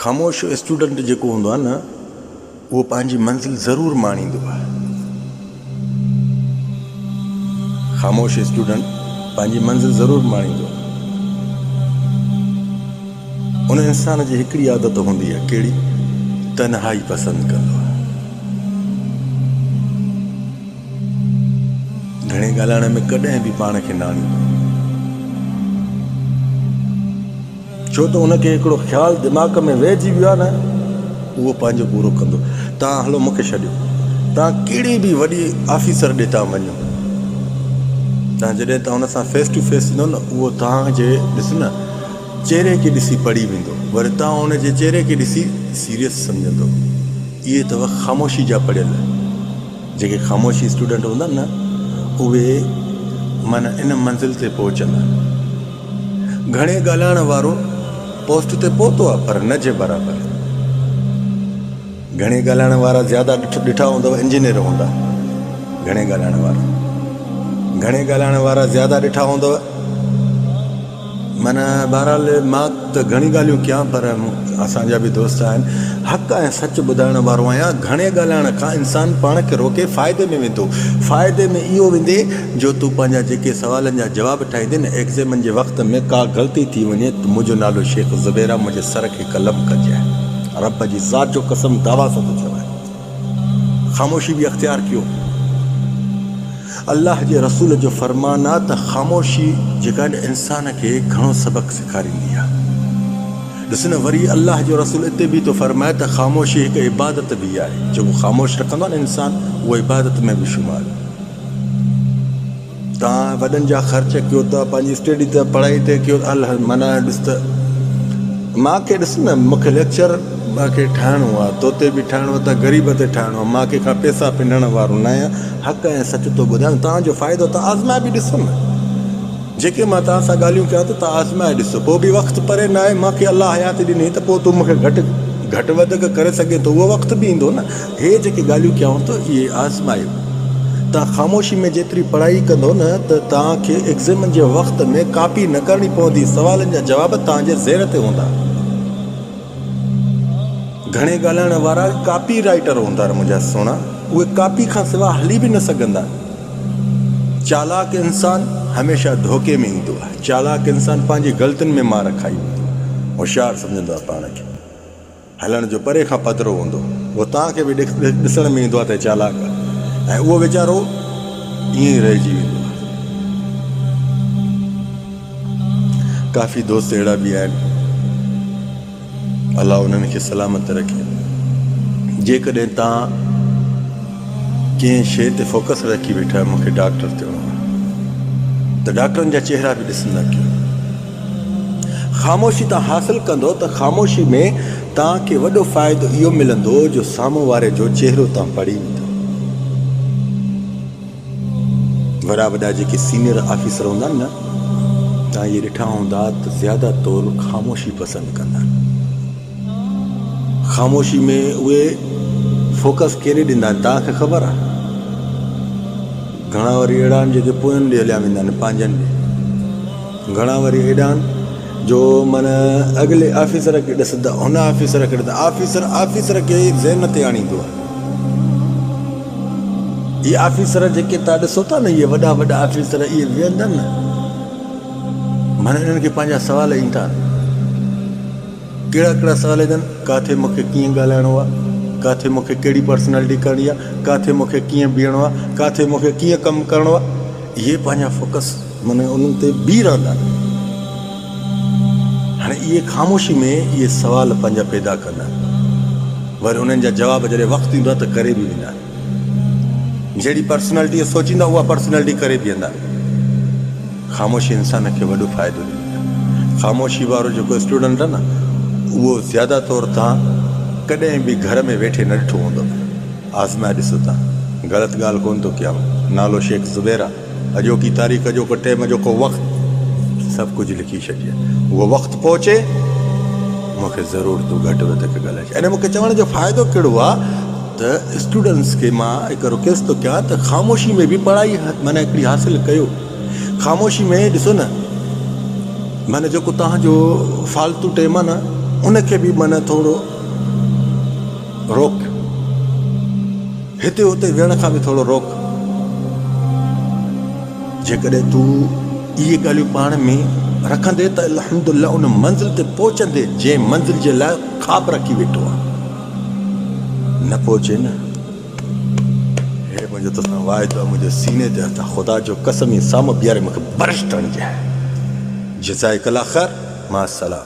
خاموش اسٽوڊنٽ جيڪو هوندو آهي نه اهو پنهنجي منزل ضرور ماڻيندو آهي. خاموش اسٽوڊنٽ پنهنجي منزل ضرور ماڻيندو آهي. ان انسان جي هڪڙي عادت هوندي آهي ڪهڙي تنهائي پسند ڪندو آهي. گهڻي ڳالهائڻ ۾ ڪڏهن به پاڻ کي نه آڻيندو آهي. ڇو ته ان کي هڪڙو خيال دماغ ۾ وهجي ويو آهي نه اهو پنهنجو پورو ڪندو. توهان هلو مون کي ڇڏيو. توهان ڪهڙي به وڏي آفيسر ڏي ٿا وڃو. توهان جڏهن ته هن سان فيس ٽو فيس ٿيندو نه اهو توهان جي ڏس نه چهري کي ڏسي پڙهي ويندو وري توهان ان جي چهري کي ڏسي سيريس سمجهندو. اهي اٿو خاموشي جا پڙهيل. جيڪي خاموشي اسٽوڊنٽ هوندا نه اهي معنيٰ ان منزل تي پهچندا. گهڻي ڳالهائڻ وارو پوسٽ تي پهتو آهي پر نه جي برابر. گهڻي ڳالهائڻ وارا زياده ڏٺا هوندؤ انجنيئر هوندا گهڻي ڳالهائڻ وارا گهڻي ڳالهائڻ وارا زياده ڏٺا هوندؤ معنيٰ بهرحال مان ته گهڻي ڳالهيون ڪيان پر اسان جا به دوست آهن حق ۽ سچ ٻڌائڻ وارو آهيان گهڻي ڳالهائڻ کان انسان پاڻ کي روڪي فائدي ۾ ويندو فائدي ۾ اهو ويندي جو تون پنهنجا جيڪي سوالن جا جواب ٺاهيندين ۽ ايگزيمن جي وقت ۾ ڪا غلطي ٿي وڃي ته منهنجو نالو شيخ زبير آهي منهنجي سر کي قلم ڪجانء رب جي ذات جو قسم دعويٰ سان ٿو چوان خاموشي به اختيار ڪيو الله جي رسول جو فرمان آهي ته خاموشي جيڪا انسان کي گهڻو سبق سيکاريندي آهي ڏس نه وري الله جو رسول اتي به ٿو فرمائي ته خاموشي هڪ عبادت به آهي جيڪو خاموش رکندو آهي نه انسان اهو عبادت ۾ به شمار تان وڏن جا خرچ ڪيو ته پنهنجي اسٽيڊي تي پڙهائي تي ڪيو ته الهه معنيٰ ڏس ته مان کي ڏس نه مون کي ليڪچر مان کي ٺاهڻو آهي تو تي به ٺاهڻو آهي ته غريب تي ٺاهڻو آهي مان ڪنهن کان پيسا پنهڻ وارو نه آهيان حق ۽ سچ ٿو ٻڌايان تان جو فائدو تان آزمائي به ڏسو نه جيڪي مان تان سان ڳالهيون ڪيان ٿو تان آزمائي ڏسو پوء به وقت پري نه آهي مان کي الله حياتي ڏني ته پوء تو مون کي گهٽ گهٽ وڌڪ ڪري سگهين ٿو اهو وقت به ايندو نه هي جيڪي ڳالهيون ڪيائون ٿو اهي آزمايو. توهان خاموشي ۾ جيتري پڙهائي ڪندو نه ته توهان کي ايگزيمن جي وقت ۾ ڪاپي نه ڪرڻي پوندي سوالن جا جواب توهان جي ذهن تي هوندا. گهڻي ڳالهائڻ وارا ڪاپي رائيٽر هوندا منهنجا سهڻا اهي ڪاپي کان سواء هلي به نه سگهندا. چالاڪ انسان هميشه ڌوڪي ۾ ايندو آهي. چالاڪ انسان پنهنجي غلطين ۾ مار کائي ويندو آهي. هوشيار سمجهندو آهي پاڻ کي. هلڻ جو پري کان پڌرو هوندو هو تان کي به ڏسڻ ۾ ايندو آهي ته چالاڪ آهي ۽ اهو ويچارو ائين ئي رهجي ويندو آهي. ڪافي دوست اهڙا به آهن الله انهن کي سلامت رکي جيڪڏهن توهان ڪنهن شيء تي فوڪس رکي ويٺا آهيو مون کي ڊاڪٽر ٿيڻو آهي ته ڊاڪٽرن جا چهرا به ڏسندا ڪيو. خاموشي تان حاصل ڪندو ته خاموشي ۾ توهان کي وڏو فائدو اهو ملندو جو سامهون واري جو چهرو توهان پڙهي ويندا. وڏا وڏا جيڪي سينئر آفيسر هوندا آهن نه توهان اهي ڏٺا هوندا ته زياده طور خاموشي پسند ڪندا آهن. خاموشي ۾ اهي فوڪس ڪيڏي ڏيندا آهن توهان کي خبر آهي. گهڻا وري اهڙا آهن جيڪي پوين ڏي هليا ويندا آهن پنهنجن ڏي. گهڻا وري هيڏانهن جو من اڳلي آفيسر کي ڏس ته هن آفيسر کي ڏس. آفيسر آفيسر کي ذهن تي آڻيندو آهي. اهي آفيسر جيڪي توهان ڏسو ٿا نه اهي وڏا وڏا آفيسر اهي ويهندا نه معنيٰ انهن کي پنهنجا سوال ايندا ڪهڙا ڪهڙا سوال ايندن ڪاٿي مون کي ڪيئن ڳالهائڻو آهي ڪاٿي مون کي ڪهڙي پرسنالٽي ڪرڻي آهي ڪاٿي مون کي ڪيئن بيهڻو آهي ڪاٿي مون کي ڪيئن ڪم ڪرڻو آهي اهي پنهنجا فوڪس من انهن تي بيهي رهندا آهن. هاڻي اهي خاموشي ۾ اهي سوال پنهنجا پيدا ڪندا آهن. وري انهن جا جواب جڏهن وقت ايندو آهي ته ڪري به ويندا آهن. جهڙي پرسنالٽيء سوچيندا اها پرسنالٽي ڪري بيهندا. خاموشي انسان کي وڏو فائدو ڏيندي آهي. خاموشي وارو جيڪو اسٽوڊنٽ آهي نه اهو زياده طور توهان ڪڏهن به گهر ۾ ويٺي نه ڏٺو هوندو. آزمائي ڏسو ته غلط ڳالهه ڪونه ٿو ڪيان. نالو شيخ زبير آهي. اڄوڪي تاريخ، اڄوڪو ٽيم، اڄوڪو وقت سڀ ڪجهه لکي ڇڏجي. اهو وقت پهچي، مون کي ضرور تون گهٽ وڌ ڪري ڳالهائي ڇڏ. يعني مون کي چوڻ جو فائدو ڪهڙو آ ته اسٽوڊنٽس کي مان هڪ رڪويسٽ ٿو ڪيان ته خاموشي ۾ به پڙهائي معنيٰ هڪڙي حاصل ڪيو. خاموشي ۾ ڏسو نه معنيٰ جيڪو توهان جو فالتو ٽيم آ نه ان کي به معنيٰ ٿورو روڪ. هتي اتي ويهڻ کان به ٿورو روڪ. جيڪڏهن تون اهي ڳالهيون پاڻ ۾ رکندين ته الحمدلله ان منزل تي پهچندين جنهن منزل جي لاء خواب رکي ويٺو آهين. نه پهچين نه. هي منهنجو تو سان واعدو آهي منهنجي سيني تي هٿ خدا جو قسم ايئن سامهون بيهاري مون کي برش ٽڻجي. جزائڪ الله خير مع السلام.